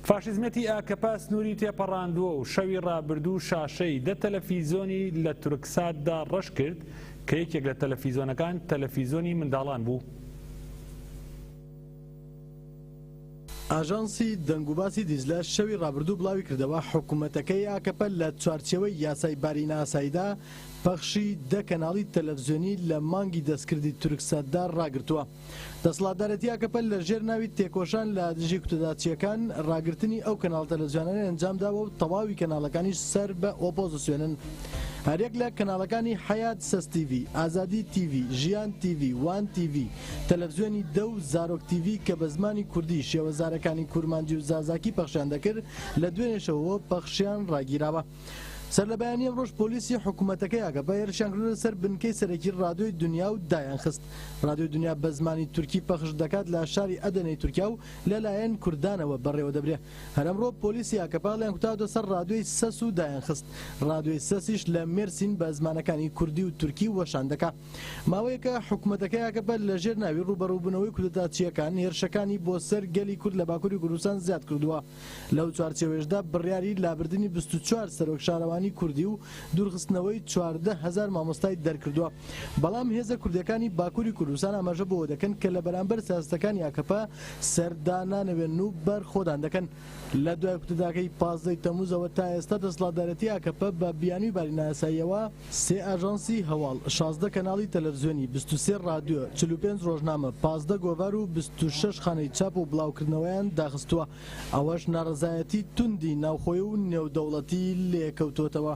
فاشیزمێتی ئاکەپە سنووری تێپەڕاندووە و شەوی ڕابردوو شاشەی دە تەلەفیزۆنی لە تورکساتدا ڕەش کرد کە یەکێک لە تەلەفیزۆنەکان تەلەفیزۆنی منداڵان بوو. ئاژانسی دەنگوباسی دیجلە شەوی ڕابردوو بڵاویکردەوە، حکومەتەکەی ئاکەپە لە چوارچێوەی یاسای باری نائاساییدا پەخشی دە کەناڵی تەلەفزیۆنی لە مانگی دەستکردی تورکساتدا ڕاگرتووە. دەسڵاتدارێتی ئاکەپە لە ژێر ناوی تێکۆشان لە دژی کوتەداچیەکان ڕاگرتنی ئەو کەناڵ تەلەزیۆنانەی ئەنجام داوە و تەواوی کەناڵەکانیش سەر بە ئۆپۆزسیۆنن هەریەک لە کەناڵەکانی حەیات سەس تیڤی ئازادی تیڤی ژیان تیڤی وان تیڤی تەلەفزیۆنی دە و زارۆک تیڤی کە بە زمانی کوردی شێوەزارەکانی کورمانجی و زازاکی پەخشیان دەکرد لە دوێنێشەوەوە پەخشیان ڕاگیراوە. سەرلەبەیانی ئەمڕۆش پۆلیسی حکومەتەکەی ئاکەپە هێرشیان کردۆتە سەر بنکەی سەرەکی رادیۆی دونیا و دایانخست. رادیۆی دونیا بە زمانی تورکی پەخش دەکات لە شاری ئەدەنەی تورکیا و لەلایەن کوردانەوە بەڕێوەدەبرێ. هەر ئەمڕۆ پۆلیسی ئاکەپە هەڵیان کوتاوەتە سەر رادیۆی سەس و دایانخست. رادیۆی سەسیش لە مێرسین بە زمانەکانی کوردی و تورکی وەشان دەکا. ماوەیەکە حکومەتەکەی ئاکەپە لەژێر ناوی رووبەڕووبوونەوەی کودەتاچییەکان هێرشەکانی بۆ سەر گەلی کورد لە باکوری کوردستان زیاد کردووە. لەو چوارچێوەیشدا بڕیاری لابردنی بیست و چوار سەرۆک شارەوانی کوردی و دوورخستنەوەی چواردە هەزار مامۆستای دەرکردووە، بەڵام هێزە کوردییەکانی باکووری کوردستان ئاماژە بەوە دەکەن کە لە بەرامبەر سیاسەتەکانی ئاکەپە سەردانانەوێن و بەرخۆدان دەکەن. لە دوای کودەتاکەی پازدە ی تەمووزەوە تا ئێستا دەسەڵاتدارێتی ئاکەپە بە بیانووی باری نایاساییەوە، سێ ئاژانسی هەواڵ، شازدە کەناڵی تەلەڤزیۆنی، بیست و سێ ڕادیۆ، چل و پێنج ڕۆژنامە، پازدە گۆڤار و بیست و شەش خانەی چاپ و بڵاوکردنەوەیان داخستووە، ئەوەش ناڕەزایەتی توندی ناوخۆی و نێودەوڵەتی لێکەوتووەتەوە.